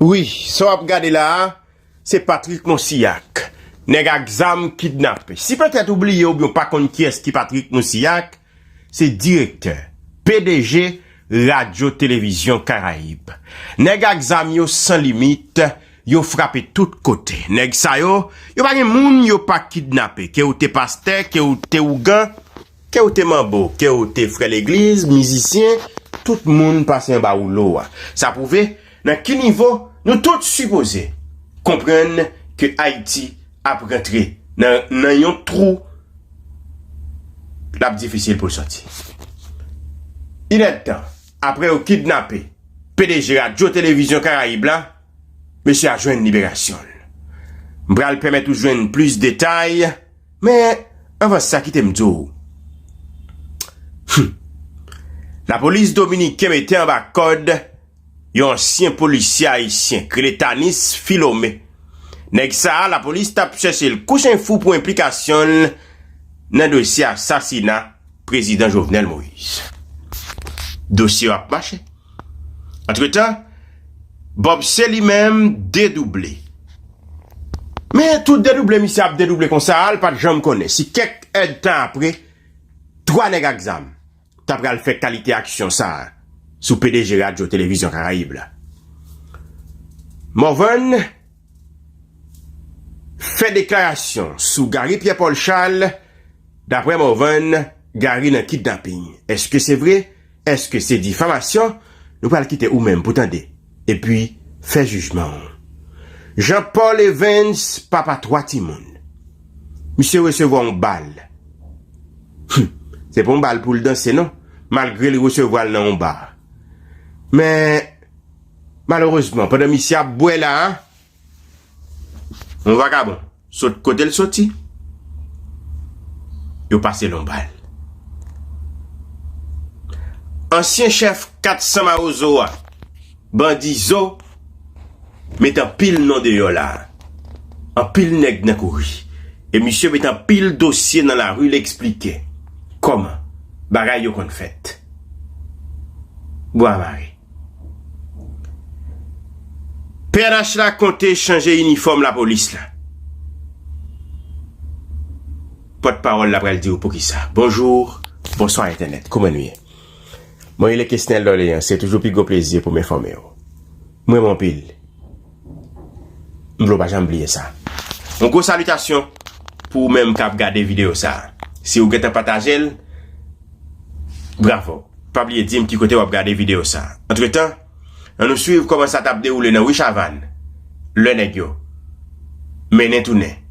Wi sa wap gade la a se Patrick Monsiak nèg ak zam kidnape. Si petèt ou bliye oubyen ou pa konn kiyès ki Patrick Monsiak, se direktè, pdg Radyo Televizyon Karayib. Nèg ak zam yo san limit, yo frape tout kote. Nèg sa yo, yo pa gen moun yo pa kidnape, ke ou te pastè, ke ou te ougan. Ke w te manbo, ke w te frè legliz, mizisyen, tout moun pase anba woulo a. Sa pwouve nan ki nivo nou tout sipoze konprann ke Ayiti ap rantre nan nan yon twou l ap difisil pou l sòti. Inèdtan apre yo kidnape pdg Radyo Televizyon Karayib la, mesye a jwenn liberasyon l. M pral pèmèt ou jwenn plis detay. Men, anvan sa kite m di w, Humm! Lapolis dominiken mete anba kòd yon ansyen polisye ayisyen k rele Tanis Philomé. Nèg sa a lapolis t ap chèche l kou chen fou pou enplikasyon l nan dosye asasina Prezidan Jovenel Moïse. Dosye yo ap mache. Antretan, Bob C. li menm dedouble. Men, tout dedouble misye ap dedouble konsa a, l pa t janm konnen si kèk èdtan apre, twa nèg ak zam t apral fè kalite aksyon sa a sou pdg Radyo Televizyon Karayib la. Morvan fè deklarasyon sou Garry Pierre Paul Charles, Dapre Morvan, Garry nan kidnaping. Èske se vre? Èske se difamasyon nou pral kite ou menm pou tande, epi fè jijman ou? Jean Paul Evens, papa 3 timoun. Misye resevwa yon bal. Hum! Se pa yon bal pou l danse non, malgre li resevwa l nan yon bar. Men, malerezman, pandan misye ap bwè la a, yon vakabon. Sot kote l soti, yo pase l yon bal. Ansyen chèf 400 mawozo a, bandi Zo, met anpil non deyò la a. Anpil nèg nan kouri. E misye met anpil dosye nan lari l esplike kòman bagay yo konn fèt. Bwa mare. Pnh la konte chanje inifòm lapolis la. Pòt pawòl la pral diw poukisa. Bonjour, bonswa entènèt, kouman nou ye? Mwen rele Kesnel Dorleans, se toujou pi gwo plezi pou m enfòme w. M renmen w anpil. M vle w pa janm bliye sa. Yon gwo salitasyon pou ou menm kap gade videyo sa. Si ou gentan pataje l, bravo. Pa bliye di m ki kote wap gade videyo sa. Antretan, an nou swiv kòman sa tap dewoule nan Wi Chavann lè nèg yo mennen tounen.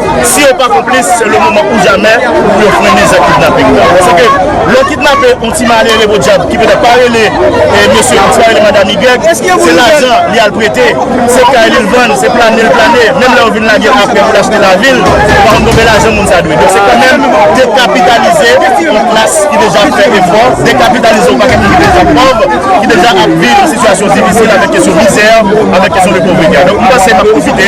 Si yo pa konplis, se le moman ou jamè pou yo frennen zak kidnaping nan. Pase ke lè w kidnape yon ti malere podyab ki petèt pa rele mesye yo, ti pa rele madam Y, se lajan li al prete, se kay li l vann, se plane l plane, menm lè yo vin lage l aprè pou l achte lavi l, ou pa konn konbe lajan moun sa dwe. Donk se kanmenm dekapitalize yon klas ki deja ap fè efò, dekapitalize yon pakèt moun ki deja pòv, ki deja ap viv yon sitiyasyon difisil avèk kesyon mizè, avèk kesyon de povrete a. Donk mwen panse m ap pwofite.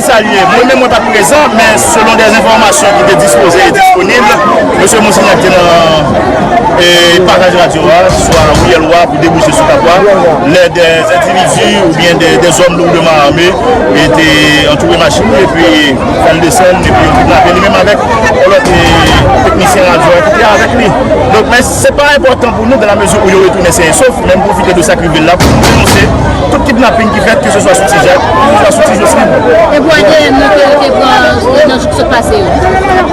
Salye, mwen menm mwen pat prezan, men selon dè enfòmasyon ki te dispoze e disponib, mesye Monsignac te nan pasaj radyo a, swa Riyèl Wa pou debouche sou Kap Wa, lè dè endividi oubyen dè zòm lourdman ame te antoure machin li epi fè l desann epi yo kidnape li menm avèk yon lòt teknisyen radyo a ki te avèk li. Se pa enpòtan pou nou dan la mezi ou yo retounen sen e sof, men m pwofite de sa k rive la pou m denonse tout kidnaping ki fèt ke se swa sou Ti Jak, ke se swa sou Ti Josline. E pou adn nan ke yo te pran nan jou ki sot pase yo?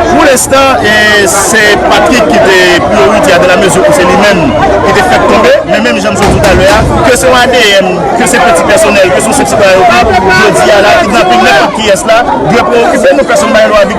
Pou lenstan, se Patrick ki te priyorite a dan la mezi ou se li menm ki te fèk tonbe, men menm jan m sot di w talè a, ke se yon adn, ke se peti pèsonèl, ke se yon sèk sitwayen ou pa, jodi a la kidnaping nenpòt kiyès la dwe prewokipe nou, pèsonn pa gen dwa vitim.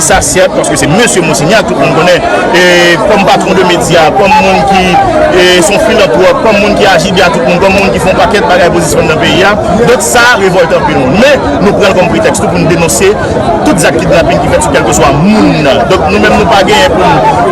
Sa sèt, paske se Mesye Monsignac, tout moun konnen, kòm patwon de medya, kòm moun ki son filantwòp, kòm moun ki aji byen a tout moun, kòm moun ki fè yon pakèt bagay pozisyon nan peyi a. Donk sa revòlte anpil moun. Men, nou pran l kòm pretèks tou pou nou denonse tout zak kidnapin ki fèt sou kèlkeswa moun nan. Donk nou menm nou pa genyen pou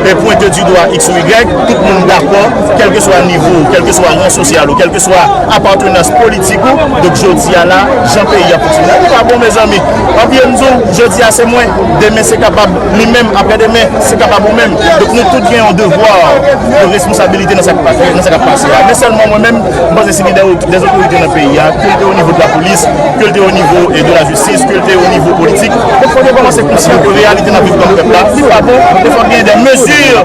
nou pwente di dwa iks ou igrèk. Tout moun dakò, kèlkeswa nivo ou, kèlkeswa ran sosyal ou, kèlkeswa apatenans politik, Ti kou, donk jodi a la, jan peyi a fonksyone a li pa bon mezanmi. Anpi yo m di w, jodi a se mwen, demen se kapab li menm, aprè demen se kapab ou menm. Donk nou tout gen yon devwa, yon responsabilite nan sa k ap pase a. Men sèlman mwen menm, m panse se li dè otorite nan peyi a, ke l te onivo de la polis, ke l te onivo de la jistis, ke l te onivo politik, fòk yo kòmanse konsyan ke reyalite n ap viv kòm pèp la li pa bon e fòk genyen dè mezi.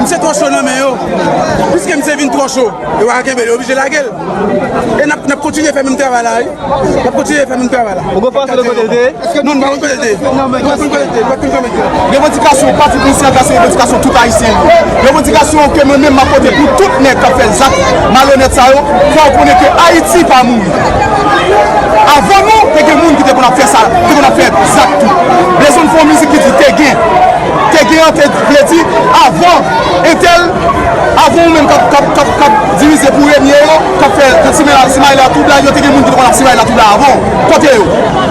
Misye twò cho nan men yo. Piske misye vin twò cho, yo pa ka kenbe l, yo oblije lage l. E n ap kontinye fè menm travay la wi. N ap kontinye fè menm travay la. Ou gen enfòmasyon de kote l te ye? Non, m pa konn kote l te ye. Nou pa konn kote l te ye. Nou pa konn kote l te ye. Revandikasyon pati konsyans la se revandikasyon tout Ayisyen yo. Revandikasyon ke mwen menm m ap pote pou tout nèg k ap fè zak malonèt sa yo, fò yo konnen ke Ayiti pa mouri. Avan nou, te gen moun ki te konn ap fè sa, te konn ap fè zak tou. Blèzonn fè yon mizik ki di te gen. Te gen an te vle di avan entèl, avan ou menm kap dirize pou renye yo, kap fè simaye la twoubla yo te gen moun ki te konn ap simaye la twoubla avan ou. Kote yo?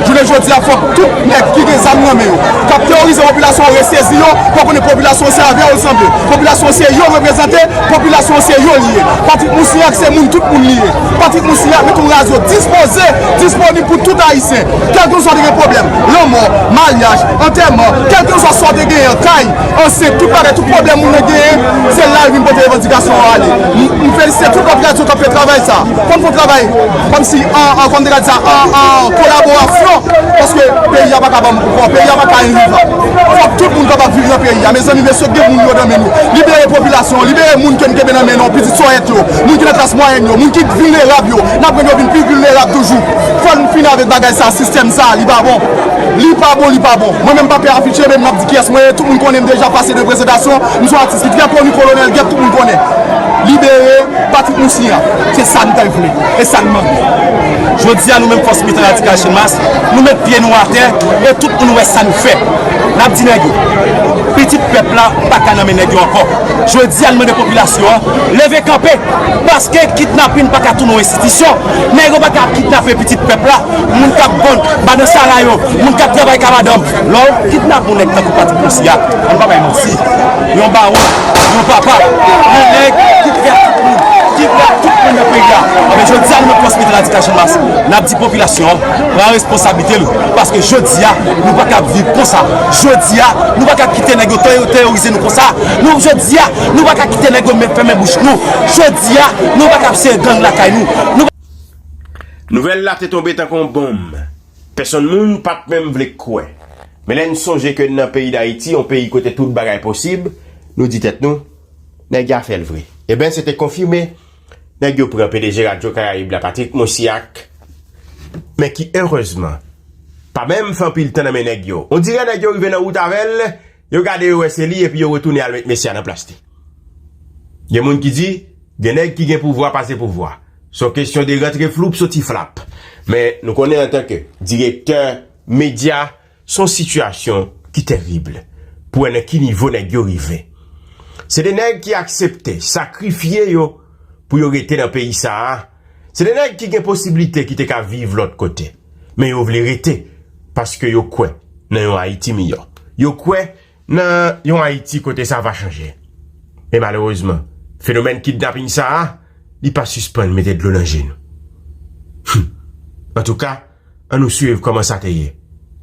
Jounen jodi a fòk tout nèg ki gen zam nan men yo, kap teworize popilasyon an resezi yo pou yo konnen popilasyon an se avè yo l sanble, popilasyon an se yo l reprezante, popilasyon an se yo li ye. Patrik Mousniak se moun tout moun li ye. Patrick Mouciak met yon radyo dispoze, disponib pou tout Ayisyen, kèlkenswa ou te gen pwoblèm, lanmò, maryaj, antèman, kèlkenswa sa ou te genyen, kay, ansent, tout bagay, tout pwoblèm moun nan genyen, se la yo vin pote revandikasyon yo ale. M felisite tout lòt radyo k ap fè travay sa a, fò n fè yon travay kòmsi an, kòman m te ka di sa, an kolaborasyon, paske peyi a pa ka banm vwa, peyi a pa ka envivan. Fòk tout moun kapab viv nan peyi a. Mezanmi, mesye, gen moun yo nan men nou. Libere popilasyon an, libere moun ke n kenbe nan men nou an. Sòyèt yo, moun ki nan klas mwayèn yo, moun ki vilnerab yo, n ap rann yo vin pi vilnerab toujou. Fò n fini avèk bagay sa a, sistèm sa a, li pa bon. Li pa bon, li pa bon. Mwen menm m pa pè afiche men m ap di kiyès mwen ye, tout moun konnen m deja pase de prezantasyon, m son atis ki trè koni, Kolonèl Gèp tout moun konnen. Libere Patrik Moussi an, se sa n ta vle e sa n mande. Jodi a nou menm Fòs Militan Radikal Channmas, nou met pye nou atè e tout moun wè sa n fè. N ap di nèg yo, pitit pèp la pa ka nan men nèg yo ankò. Jodi a n mande popilasyon an leve kanpe paske kidnapin paka tounen yon enstitisyon, nèg yo paka ap kidnape pitit pèp la, moun k ap vann banan sara yo, moun k ap travay ka madanm. Lè w kidnape yon nèg tankou Patrick Moncir a, an n pa bay manti, yon bawon, yon papa, yon nèg ki prè ak tout moun, ki prè ak tout moun nan peyi a, anben jodi a nou menm Transmedi Radikal Chanmas n ap di popilasyon an pran responsablite l paske jodi a nou paka ap viv konsa, jodi a nou paka ap kite nèg yo teyorize nou. Konsa, nou jodi a, nou pa ka kite nèg yo met fèmen bouch nou. Jodi a, nou pa ka ap sere gang lakay nou. Nou. Nouvèl la te tonbe tankou yon bonm. Pèsonn moun pa t menm vle kwè. Men lè n sonje ke n nan peyi Dayiti, yon peyi kote tout bagay posib, nou di tèt nou, Nèg ya fè l vre. Eben, se te konfime. Nèg yo pran pdg Radyo Karayib la, Patrick Mosiak, men ki erezman, pa menm fè anpil tan nan men nèg yo. Ondirè nèg yo rive nan wout avè l. Yo gade yo wè se li epi yo retounen al met mesye a nan plas li. Gen moun ki di, gen nèg ki gen pouvwa pase pouvwa. Se yon kesyon de rantre floup soti flap. Men nou konnen antan ke direktè medya, se yon sitiyasyon ki terib pou wè nan ki nivo nèg yo rive. Se de nèg ki aksepte sakrifye yo pou yo rete nan peyi sa a. Se de nèg ki gen posiblite ki te ka viv lòt kote. Men yo vle rete paske yo kwè nan yon Ayiti miyò. Yo kwè nan yon Ayiti kote sa va chanje. Men malerezman, fenomèn kidnaping sa a, li pa sispann mete dlo nan je nou. Humm! Antouka. An nou swiv kòman sa te ye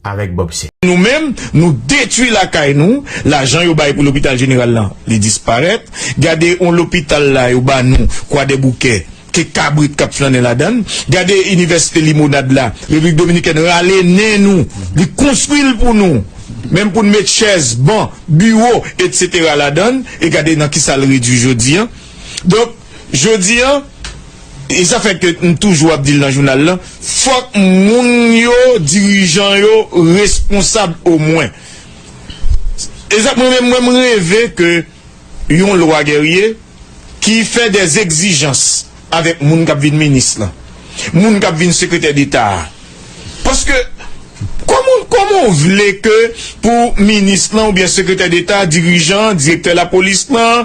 avèk Bob Sè. Nou menm, nou detwi lakay nou, lajan yo bay pou lopital jeneral lan, li disparèt, gade yon lopital la yo ba nou Kwadèboukè, ke kabrit k ap flannen ladan l, gade inivèsite Limonad la, Repiblik Dominikèn rale nen nou, li konstwi l pou nou, menm pou n met chèz, ban, biwo, etsetera ladan l, e gade nan kisa l redwi jodi an. Donk, jodi an. E sa fè ke m toujou ap di l nan jounal lan, fòk moun yo, dirijan yo responsab omwen. E sa mwen menm, mwen m reve ke yon lwa Guerrier ki fè dè egzijans avèk moun k ap vin minis lan, moun k ap vin sekretè deta a. Paske kòman w, kòman w vle ke pou minis lan oubyen sekretè deta, dirijan, direktè lapolis lan,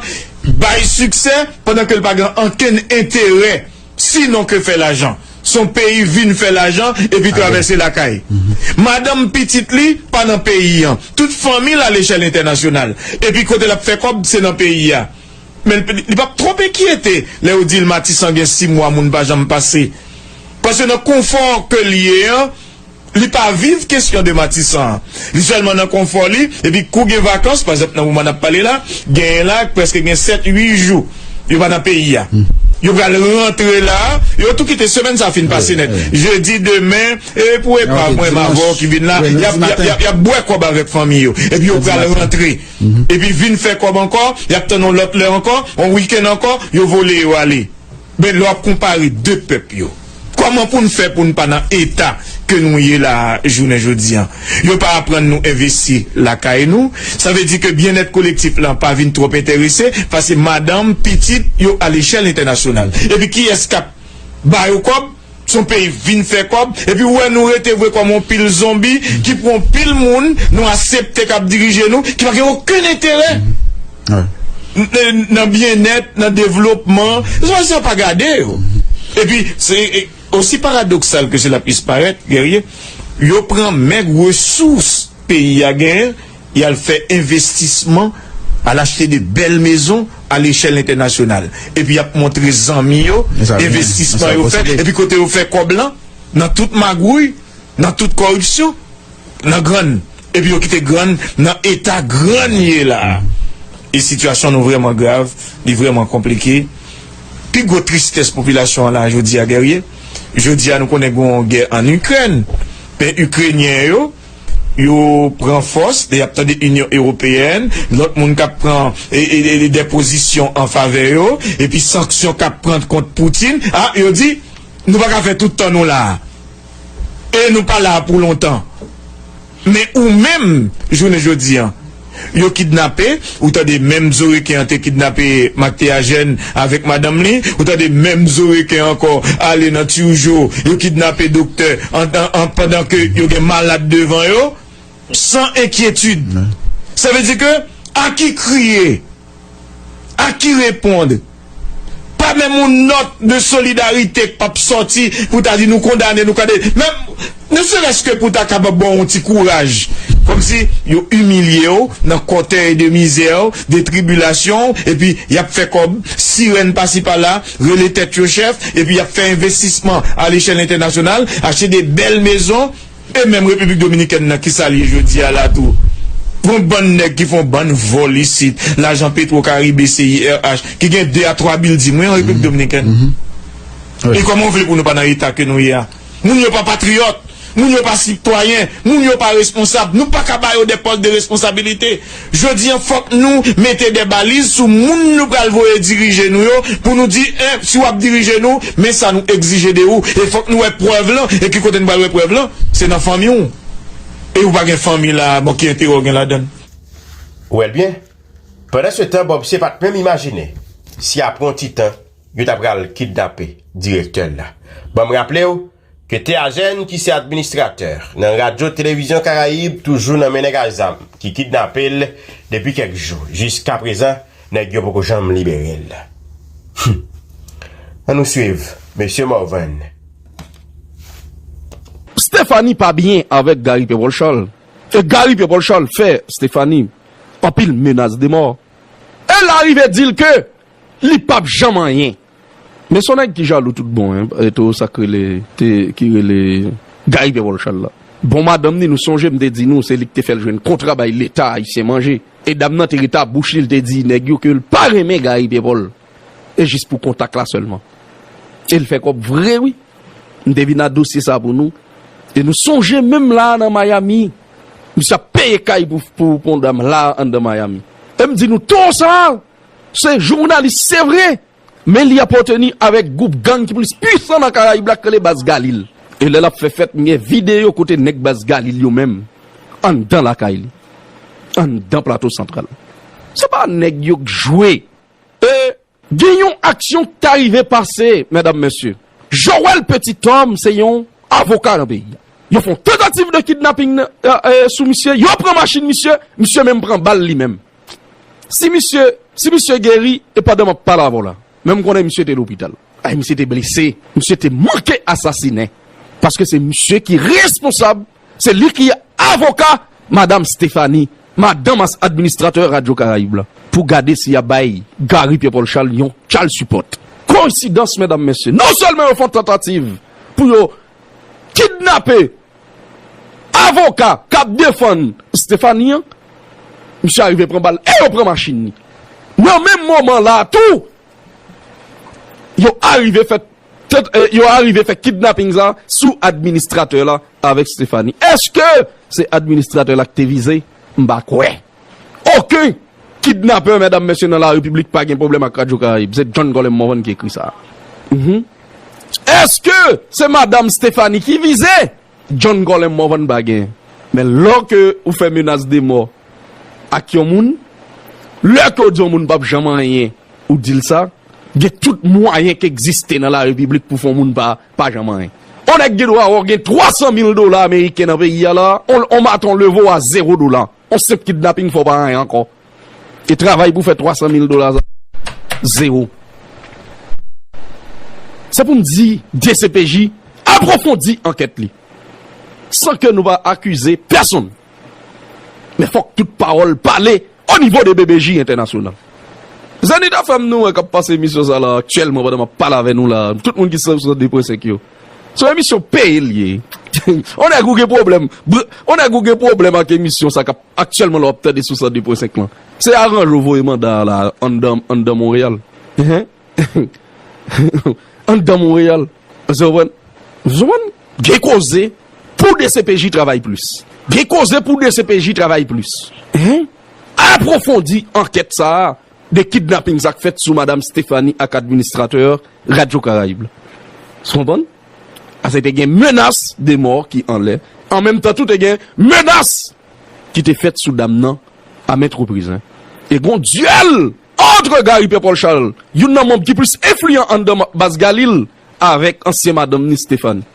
Bay siksè pandan ke l pa gen ankenn enterè si non ke fè lajan. S on peyi vin fè lajan epi travèse lakay. Madanm pitit li pa nan peyi an. Tout fanmi l alechèl entènasyonal. Epi kote l ap fè kòb se nan peyi a. Men l li p ap twòp enkyete lè yo di l Matisan gen si mwa moun pa janm pase. Paske nan konfò ke l ye an. Li pa viv kesyon de Matisan an. Li sèlman nan konfò li, epi kou gen vakans, pa egzanp nan moman n ap pale la, genyen la k prèske gen sèt, ui jou yo pa nan peyi a. Yo pral rantre la, yo tou kite semèn sa a fin pase nèt. Jedi, demen, e pou epa mwen m avè w ki vin la, y ap y ap bwè kòb avèk fanmi yo. Epi yo pral rantre. Epi vin fè kòb ankò, y ap tann yon lòt lè ankò, yon wikenn ankò, yo vole yo ale. Men lè w ap konpare 2 pèp yo, kòman pou n fè pou n pa nan eta ke nou ye la a jounen jodi an? Yo pa aprann nou envesti lakay nou, sa vle di ke byennèt kolektif lan pa vin twòp enterese, pase madanm, pitit, yo alechèl entènasyonal. Epi kiyès k ap ba yo kòb? Son peyi vin fè kòb epi ou wè nou rete vre kòm on pil zonbi ki pou on pil moun nou asepte kap dirije nou ki pa gen okenn enterè nan byennèt, nan devlopman se pa sa pa gade yo epi se osi paradoksal ke sela pwis parèt Guerrier yo pran mèg resous peyi a genyen. Y al fè envestisman, al achte de bèl mezon a lechèl entènasyonal. Epi y ap montre zanmi yo envestisman yo fè. Epi kote yo fè kòb lan? Nan tout magwouy, nan tout kòripsyon, nan grann. Epi yo kite grann nan eta grann ye la a. E sitiyasyon nou vrèman grav, li vrèman konplike. Pi gwo tristès popilasyon an la jodi a Guerrier, jodi a nou konnen gen yon gè ann Ikrèn. Men Ikrenyen yo. yo pran fòs lè y ap tande Inyon Ewopeyèn, lòt moun k ap pran dè pozisyon an favè yo, epi sanksyon k ap pran kont Putin, a, yo di, Nou pa ka fè tout tan nou la a. E nou pa la a pou lontan. Men ou menm, jounen jodi an. Yo kidnape, ou tande menm zo reken an te kidnape Mak Théagène avèk madanm li, ou tande menm zo reken ankò ale nan Turjo, yo kidnape doktè an pandan ke yo gen malad devan yo, san enkyetid. Sa vle di ke a ki kriye? a ki repond pa menm yon nòt de solidarite k pap sòti pou ta di nou kondane nou kande menm ne serès ke pou ta kapab ba w yon ti kouraj kòmsi yo imilye w nan kòtèy de mizè w de tribilasyon w epi y ap fè kòb sirèn pasi pala rele tèt yo chèf epi y ap fè envestisman alechèl entènasyonal achte de bèl mezon. E menm repiblik dominikèn nan kisal ye jodia la tou pran bann nèg ki fon bann vòl isit lajan petro karibe CIRH ki gen 2 a 3 bilding wi an repiblik dominikèn e kòman ou vle pou nou pa nan eta ke nou ye a moun yo pa patriyòt moun yo pa sitwayen moun yo pa responsab nou paka ba yo dè pòs de responsabilite Jodi an fòk nou mete de baliz sou moun nou pral voye dirije nou yo pou nou di 1 si wap dirije nou men sa nou egzije de ou e fòk nou wè prèv lan e ki kote nou pral wè prèv lan se nan fanmiw e ou pa gen fanmi la bon ki enterè ou gen ladann. Wèl byen? Pandan se tan Bob se pat menm imajine si apre yon ti tan yo ta pral kidnape direktè l la. Banm raplew Ke Teagène ki se administratè nan Radyo Televizyon Karayib toujou nan men nèg a zam ki kidnape l depi kèk jou. Jiskaprezan nèg yo poko janm libere l. Humm! An nou swiv Mesye Morvan. Stéphanie pa byen avèk Gary Pierre Paul Charles e Gary Pierre Paul Charles fè Stéphanie anpil menas de mò e l arive di l ke li pap janm anyen. Men son nèg ki jalou tout bon hein rete ou sak rele te ki rele Guy Verolchal la bon madanm ni nou sonje m te di nou se li ki te fèl jwenn kontra bay leta ayisyen manje e dam nan te rete a bouch li l te di nèg yo ke l pa renmen Guy Pierpol e jis pou kontak la sèlman e l fè kòb vre wi m te vin a dosye sa pou nou e nou sonje menm la nan Miami misye ap peye kay pou pou pou yon dam la anndan Miami e m di nou toro sa Se jounalis se vre, men li apateni avèk gwoup gang ki plis pwisan nan Karayib la ki rele Baz Galil. E lè l ap fè fèt m gen videyo kote nèg Baz Galil yo menm anndan lakay li, anndan Plato Santral. Se pa nèg yo k jwe. E gen yon aksyon k ta rive pase, medam mesye. Joel Petit-Homme se yon avoka nan peyi a. Yo fè yon tantativ de kidnaping sou misye, yo pran machin misye, misye menm pran bal li menm. Si misye si misye geri e pandan map pale avèw la menm konnen misye te lopital ay misye te blese misye te manke asasine paske se misye ki responsab se li ki avoka madam Stephanie madanm as administratè radyo karayib la pou gade si yap bay Garry Pierre Paul Charles yon child support koinsidans medam mesye non sèlman yo fon tantativ pou yo kidnape Avoka kap defann Stephanie an misye arive pran bal e yo pran machin ni. Nan menm moman la tou yo arive fè yo arive fè kidnaping sa sou administratè la avèk Stephanie. Eske se administratè la ki te vize? M pa kwè. Oken kidnapè medam mesye nan la repiblik pa gen pwoblèm ak radyo karayib se John Colem Morvan ki ekri sa a uhmm eske se madam Stephanie ki vize John Colem Morvan pa gen men lò ke ou fè menas de mò ak yon moun lè ke ou di yon moun pap janm anyen ou di l sa gen tout mwayen ki egziste nan la repiblik pou fè yon moun pa Pa janm anyen. On nèg gen dwa or gen 300 mil dola ameriken nan peyi a la, on maton levo a zero dola. On senp kidnaping fè w pa anyen ankò. E travay pou fè 300 mil dola sa, zero. Se pou m di dcpj apwofondi ankèt li. San ke nou pa akize pèsonn. Men fok tout pawol pale o nivo de BBJ entènasyonal. Zenith FM nou an kap pase emisyon sa la aktyèlman pandan map pale avè nou la, tout moun ki sou 102 pwen 5 yo. Son emisyon peye li ye. On nèg ou gen pwoblèm, on nèg ou gen pwoblèm ak emisyon sa kap aktyèlman la wap tande sou 102 pwen 5 lan. Se aranj ou voye manda la anndan anndan Monreyal. Anndan Monreyal, Zòwàn, Zòwàn, gen koze pou dcpj travay plis. Gen koze pou dcpj travay plis. Apwofondi ankèt sa a de kidnaping sa k fèt sou Madam Stéphanie ak administratè Radyo Karayib la. S konprann? Pase te gen menas de mò ki anlè. An menm tan tou te gen menas ki te fèt sou dam nan a ment repriz e gon dyèl antre Gary Pierre Paul Charles, youn nan manb ki plis enfliyan anndan baz Galil avèk ansyen madanm ni Stéphanie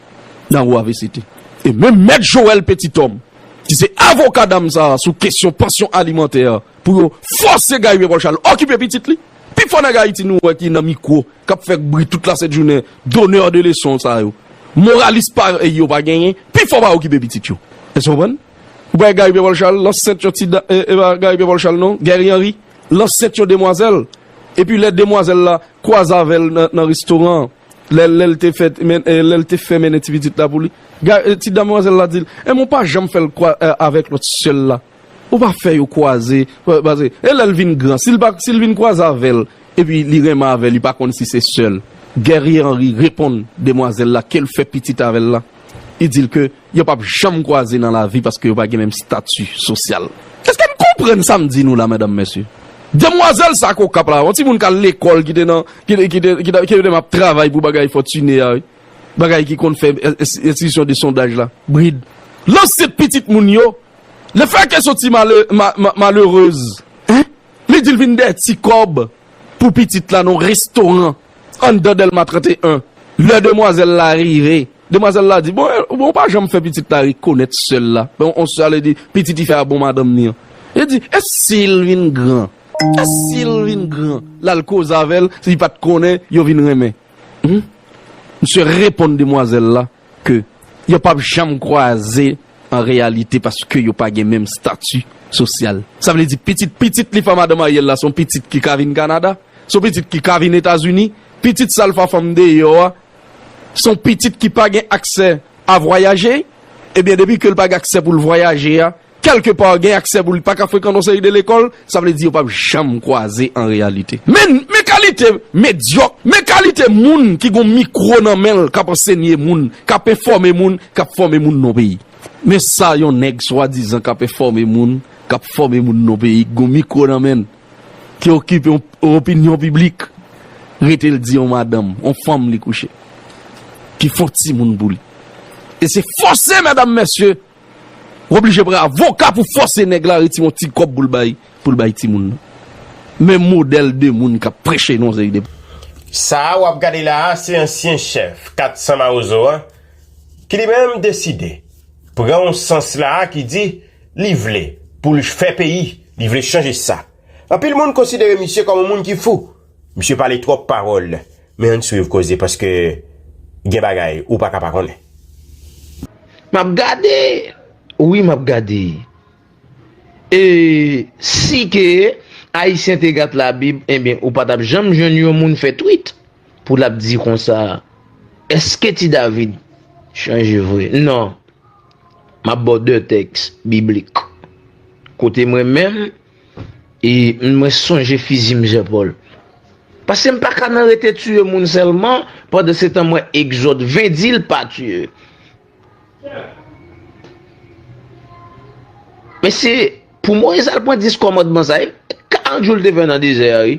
nan Rue avct e menm mèt Joël Petit-Homme ki se avoka dam sa sou kesyon pansyon alimantè pou yo fòse Gary Pierre Paul Charles okipe pitit li. Pi fò nèg Ayiti nou wè ki nan mikwo k ap fè bri tout la sent jounen, donneur de leçon sa yo, moralis parèy yo pa genyen, pi fò pa okipe pitit yo. Èske w konprann? Ou pa wè Guy Pierre-Paul Charles lan sent yon ti da, e pa Guy Pierre-Paul Charles non, Guerry Henry, lan sent yon demwazèl, epi lè demwazèl la kwaze avè l nan restoran an, lè lè l te fè, lè l te fè mennen ti pitit la pou li, Guy, ti damwazèl la di l, e men w pa janm fè l kwa, avèk lòt sè l la. Ou pa fè yo kwaze pase e lèl vin gran sil pa sil vin kwaze avèl epi li renmen avè li pa konn si se sèl. Guerrier Henri reponn demwazèl la kel fè pitit avèl la li dil ke yo pap janm kwaze nan lavi paske yo pa gen menm stati sosyal. Eske n konprann sam di nou la medam mesye? Demwazèl sa k okap la yon timoun k al lekòl ki te nan ki te ap travay pou bagay fòtine a wi bagay ki konn fè enstitisyon de sondaj la brid lanse pitit moun yo Le fè ke soti malerez hein li dil vin dè ti kob pou pitit la nan restoran anndan delma 31 lè demwazel la rive demwazel la di bon ou pa janm fè pitit la rekonet sèl la bon on sa vle di pitit li fè a bon madanm li an li di e sil vin gran e sil vin gran lal koze avèl li pat konnen yo vin renmen humm misye reponn demwazel la. ke yo pap janm kwaze an reyalite paske yo pa gen menm stati sosyal. Sa vle di pitit pitit li pa madanm Ariel la son pitit ki ka vin Kanada, son pitit ki ka vin Etazini, pitit sal fa fanm deyò a son pitit ki pa gen aksè a vwayaje, ebyen depi ke l pa gen aksè pou l vwayaje a, Kèlke pa gen aksè pou li pa ka frekan yon seri de lekòl, sa vle di yo pap janm kwaze an reyalite. Men, men kalite medyòk, men kalite moun ki gen yon mikwo nan men l k ap ansenye moun, k ap enfòme moun, k ap fòme moun nan yon peyi. Men sa yon nèg swadizan k ap enfòme moun, k ap fòme moun nan yon peyi, ki gen yon mikwo nan men l, ki okipe yon opinyon piblik, rete l di yon madanm, yon fanm li kouche, ki fè yon timoun pou li. E se fòse, medam, mesye! W oblije pran avoka pou fòse nèg la retire yon ti kòb pou l bay pou l bay timoun nan. Men modèl de moun k ap preche nan yon seri de. Sa a w ap gade la a se ansyen chèf 400 mawozo an ki li menm deside pran yon sans la a ki di li vle pou l fè peyi, li vle chanje sa. Anpil moun konsidere misye kòm yon moun ki fou. Misye pale twòp pawòl. Men ann swiv koze paske gen bagay ou paka pa konnen. Map gade wi map gade. Eeh si ke ayisyen te gat la bib enben ou patap janm jwenn yon moun fè twit pou lap di konsa eske ti David chanje vre nan map baw 2 tèks biblik kote mwen menm Eee mwen sonje fizi mnzè Paul. Pasem paka nan rete tiye moun selman pandan se tan m wè exode 20 dil pa tiye. Men se pou moise al pran 10 kòmandman sa e 40 jou l te fè nan dezè a wi.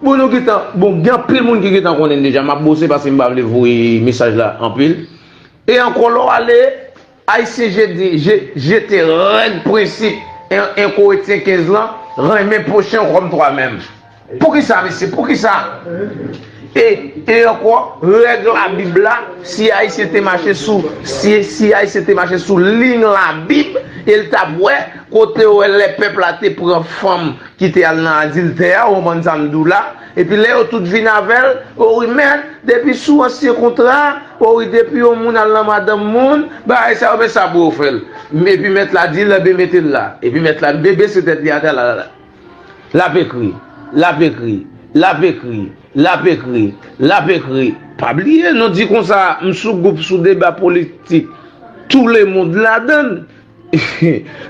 Bon nou gentan bon gen anpil moun ki gentan konnen deja map bose paske m pa vle voye mesaj la anpil e ankò lè w ale ayisyen jete jete règ prensip 1 korentyen 15 lan renmen pwochen w kòm twa menm poukisa mesye poukisa e e ankò règ labib la si ayisyen te mache sou si si ayisyen te mache sou liy labib e l tap wè kote w wè lè pèp la te pran fanm Kite al nan adiltè a ou konprann sa m di w la epi lè yo tout vin avè l o wi mèt depi sou ansyen kontra o wi depi yon moun al nan madanm moun bagay sa yo men sa pou yo fè l epi mèt la di l enben mete l la epi mèt la vle bese tèt li atè la l ap ekri l ap ekri l ap ekri l ap ekri l ap ekri. Pa bliye nou di konsa m sou gwoup sou deba politik tou lemond ladan l.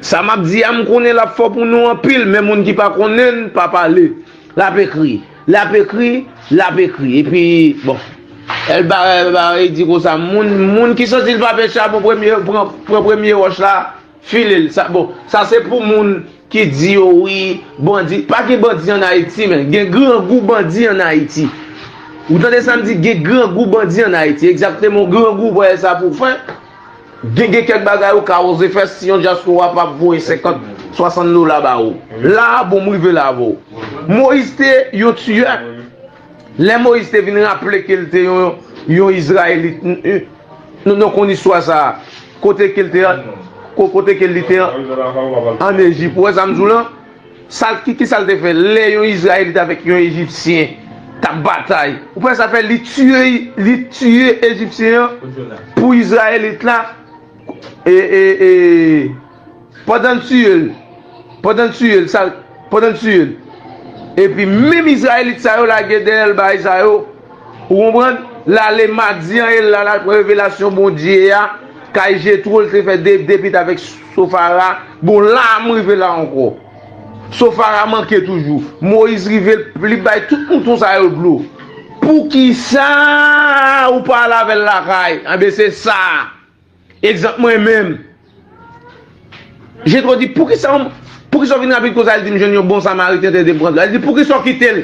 Sa map di a m konnen lap fò pou nou anpil men moun ki pa konnen l pa pale lap ekri lap ekri lap ekri epi bon el barre di konsa moun moun ki santi l pa pè chabon premye pran premye wòch la file l sa bon sa se pou moun ki di yo wi bandi pa gen bandi an ayiti men gen grangou bandi an ayiti ou tande sa m di gen grangou bandi an ayiti egzakteman grangou vwayè sa pou fè. Gen gen kèk bagay ou ka oze fè si yon dyaspora pa voye 50, 60 dola ba ou. La a bon m rive la avè w. Moyiz te yon tiyè. Lè Moyiz te vin raple ke l te yon Izrayelit nou konn istwa sa a kote ke li te an Ejip. Ou wè sa m di w lan? Sa l, ki sa l te fè lè yon Izrayelit avèk yon Ejipsyen t ap batay? Ou panse sa fè li tiye, li tiye Ejipsyen an pou Izrayelit la? E, e, e, pandan l tiye l, pandan l tiye l, sa l, pandan l tiye l, epi menm Izrayelit sa yo lage dèyè l bay sa yo, Ou konprann? Lale madi an e lal al pran revelasyon Bondye a kay Jetro li te fè de depit avèk Sofara, bon la a m rive la ankò. Sofara manke toujou. Moyiz rive l li bay tout mouton sa yo dlo. Poukisa ou pa al avè l lakay? Anben se sa a. Egzanp mwen menm. Jetro di, poukisa ou vin rapid konsa li di m jwenn yon bon samariten te de pran dlo a. Li di poukisa ou kite l?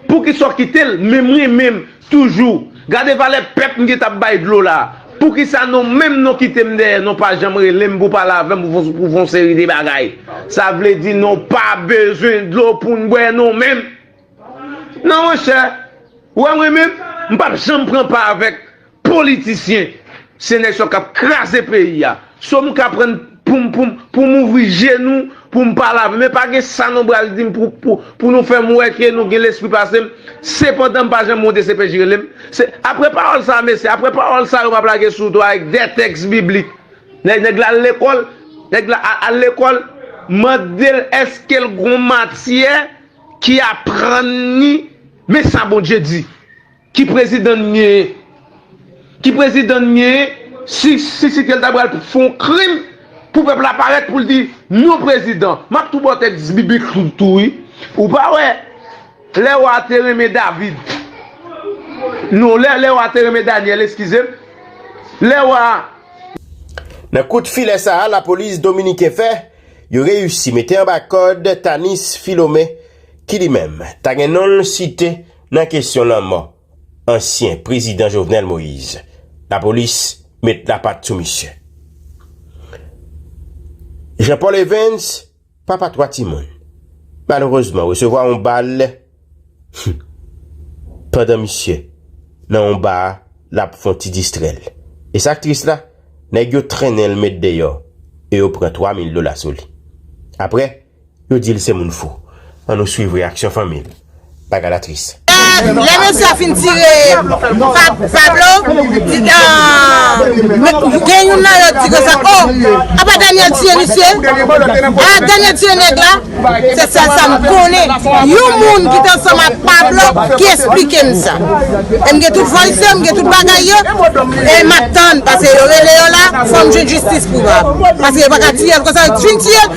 Poukisa w kite l menm mwen menm toujou gade valè pèp m gentan ap bay dlo la poukisa non menm non kite m dèyè non pa janm rele m pou pale avè m pou fon seri de bagay sa vle di non pa bezwen dlo pou n bwè non menm nan monchè wè mwen menm m pap janm pran pa avèk Politisyen se nèg sa yo kap kraze peyi a. So m ka prann poum poum poum ouvri je nou poum pa lave men pa gen sa nou bral dim pou pou pou nou fèm wè ke nou gen lespri pasem sepandan m pa janm monte CPJ relem se aprè pawòl sa mesye aprè pawòl sa yo map lage sou to avèk 2 tèks biblik nèg nèg la al lekòl nèg la a al lekòl mandel eskel gon matyè ki aprann ni men sa Bondye di. Ki prezidan n genyen? Ki prezidan n genyen si si kel ta pral fè yon krim pou pèp la parèt pou l di non prezidan? M ap tou ba w tèks biblik tou wi. Ou pa wè lè wa a te renmen David non lè wa a te renmen Danyèl eskize m lè wa a. Nan kout filè sa a lapolis dominiken fè, yo reyisi mete anba kòd Tanis Philomé ki li menm ta gen non l site Nan kesyon lanmò ansyen prezidan Jovenel Moise, lapolis met lapat sou misye. Jean Paul Evens, papa 3 timoun, malerezman resevwa yon bal pandan misye nan yon ba l ap fon ti distrè l. E sa k tris la, nèg yo trennen l met deyò e yo pran 3 mil dola sou li. Aprè. Yo di l se moun fou. An nou swiv reyaksyon fanmi l. Bagay la tris. Lè mesye a fin tire Pablo, gen youn nan yo di konsa, Oh! Apa Daniel tiye misye? Ah, Daniel tiye nèg la? Se sèl sa m konnen. Yon moun ki te ansanm ak Pablo ki esplike m sa. E m gen tout voice yo, m gen tout bagay yo. E m ap tann, paske yo rele yo la, fò m jwenn jistis pou Pablo. Paske yo pa ka tiye l konsa. Yo fin tiye l,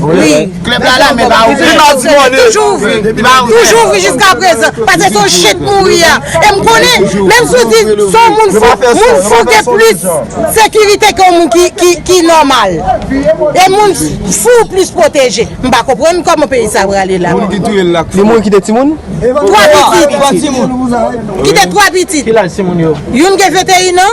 Wi, klèb la la men pa ouvri. Toujou ouvri. Toujou ouvri jiska prezan. Pase son shit mouri a. E m konnen, menm si w di son moun fou, moun fou gen plis sekirite ke yon moun ki nòmal. E moun fou plis pwoteje. M pa konprann kòman peyi sa prale la. Moun ki touye l la k fou. Li moun kite timoun? Twa pitit. Kite twa pitit. Ki laj timoun yo? Youn gen 21 an.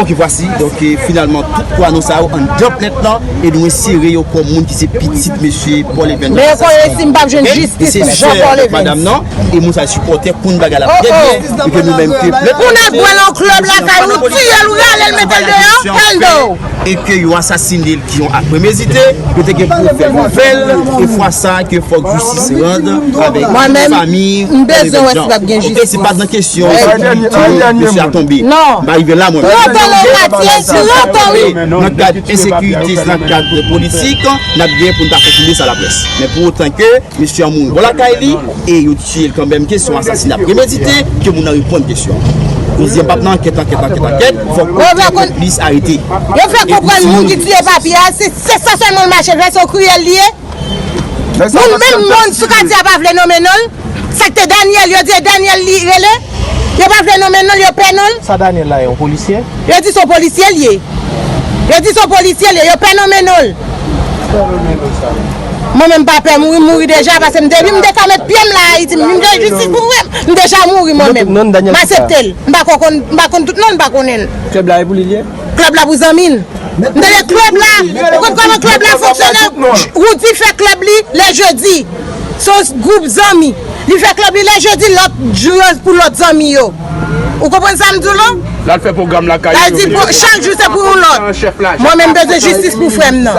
Ok vwasi donk finalman tout kwa non sa yo anndan plent lan e nou ensere yo kòm moun ki se pitit mesye Paul Evens nan asasina yo ok mesye sè avèk madam nan e moun sa yo sipòtè konn bagay la trè byen e ke nou menm ke plent nou se yon asasina pandan polisyè a fè yon asasina e ke yo asasine l. Ki yon ak premedite, yo te gen pou fè nouvèl, e fwa sa a ke fòk jistis rand avèk tout fami Olive Jean. Ok, se pat nan kesyon ke dosye a tonbe. M pa rive la mwen menm. Pran tan w Matye, pran tan w. Nan kad ensekirite, se nan kad politik, n ap gen pou n ta sèkile sa laprès. Men pou otan ke mesye an mouri bò lakay li, e yo. Tiye l kanmèm kesyon asasina premedite ke moun nan reponn kesyon koze pap nan ankèt ankèt ankèt ankèt fòk okenn konplis arete yo fè konprann moun ki tiye papi a se sa sèlman l mache fè se yon kriyèl li ye moun menm moun sou katye a pa vle nonmen non l sa k te Daniel yo di e Daniel li rele yo pa vle nonmen non l yo pè non l Sa Daniel la ye yon polisye? Yo di se yon polisye l ye yo di se yon polisye l ye yo pè nonmen non l. Mwen menm m pa pè mouri m mouri deja pase m depi m te ka met pyem la ayiti m vin jwenn jistis pou mwen m deja mouri mwen menm m asepte l m pako konn m pa konn tout non m pa konnen l. Club la e pou li liye? Club la pou zanmi l. M tande club la ou konn koman club la fonksyone Roody fè club li le jeudi son group zanmi li fè club li le jeudi lot jou yo pou lot zanmi yo ou konprann sa m di w la? Lal fè program lakay li yo vini pou l chak jou se pou yon lot mwen menm m bezwen jistis pou frè m nan.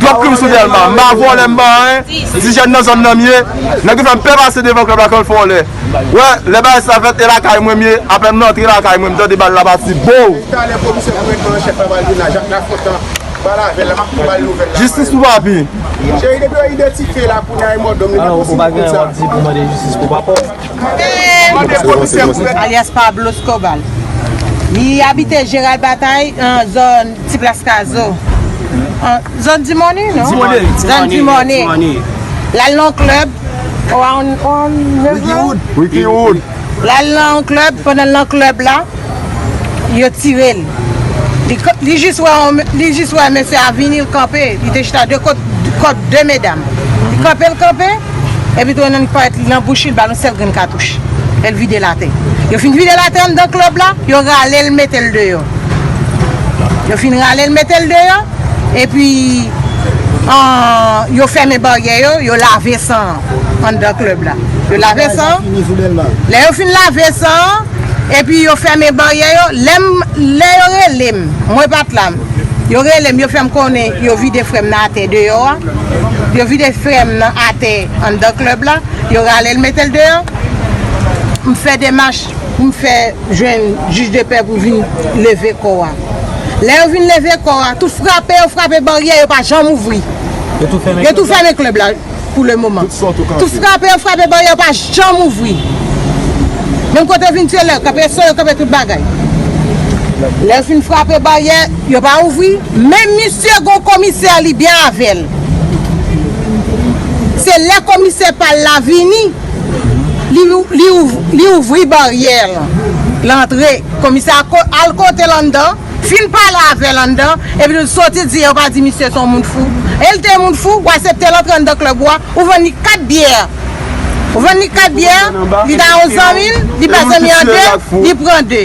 Club Krim sou Delma, m pa vòlè m pa anyen, ti jèn nan zòn nan m ye, nèg yo fè m pè pase devan club la kan fè w lè wè, lè bagay sa fèt e lakay mwen m ye, apèn m rantre lakay mwen m tande bal la pati boo! Jistis pou papi! Ti plas kazo. Zòn dimòne non? Dimòne. Zòn dimòne. Lal nan yon klèb. Ou a yon neveu? Wikiwood. Wikiwood. Lal nan yon klèb, pandan l nan klèb la, yo tire l. Li jis wè yon, li jis wè mesye a vini, l kanpe. Li te chita de kot, kot de medam. Li kanpe, l kanpe, epi tou nan payèt li, nan bouch li, l ba l yon sèl grenn katouch. E l vide l atè. Yo fin vide l atè anndan klèb la, yo rale l, mete l deyò. Yo fin rale l mete l deyò, epi yo fèmen baryè yo, yo lave san an anndan klèb la. Yo lave san an, lè yo fin lave san an, epi yo fèmen baryè yo, lè m, lè yo rele m, mwen pa t la, yo rele m, yo fè m konnen yo vide frè m nan atè deyò a, yo vide frè m nan atè anndan klèb la, yo rale l mete l deyò, m fè demach. Pou m fè jwenn jij de pè pou vin leve kò a. Lè yo vin leve kò a, tout frape yo frape baryè yo pa janm ouvri. Yo tou fèmen klèb la pou le moman. Tout frape yo frape baryè yo pa janm ouvri. Menm kote yo vin tire lè, kanpe so yo kanpe tout bagay. Lè yo fin frape baryè, yo pa ouvri. Men misye gon komisè li byen avè l. Se lè komisè pa l la vini. Li ouvri baryè l antre. Komisè a al kote l anndan, fin pale avè l anndan, epi l soti di yo pa di misye se yon moun fou. E l te yon moun fou? W asepte l antre anndan klèb ou a, ou vann li kat byè. Ou vann li kat byè, li ta yon zanmi l, li pè zanmi an de, li pran de.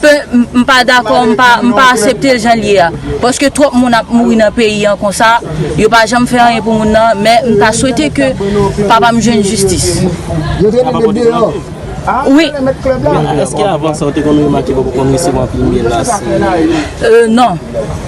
Pe m pa dakò m pa m pa asepte l jan l ye a paske twòp moun ap mouri nan peyi an konsa yo pa janm fè anyen pou moun nan men m ta swete ke papa m jwenn jistis. Sa pa pote maladi? Wi. Eske avan sa ou te konn remake papa w konn resevwa anpil menas? Non.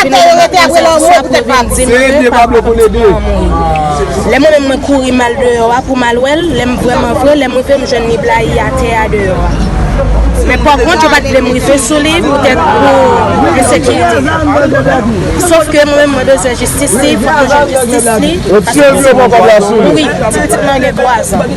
Atò yo rete apre lanmò yo poutèt pa di Seye pye Pablo pou lede Lè mwen menm mwen kouri mal deyò a pou m al wè l Lè m vrèman vre lè m rive m jwenn li blayi atè a deyò a Men pakont yo pa t vle m rive sou li poutèt pou ensekirite l Sofke mwen menm mwen bezwen jistis li fòk mwen jwenn jistis li paske m se moun nwa Mouri Ti pitit mwen an gen 3 zan.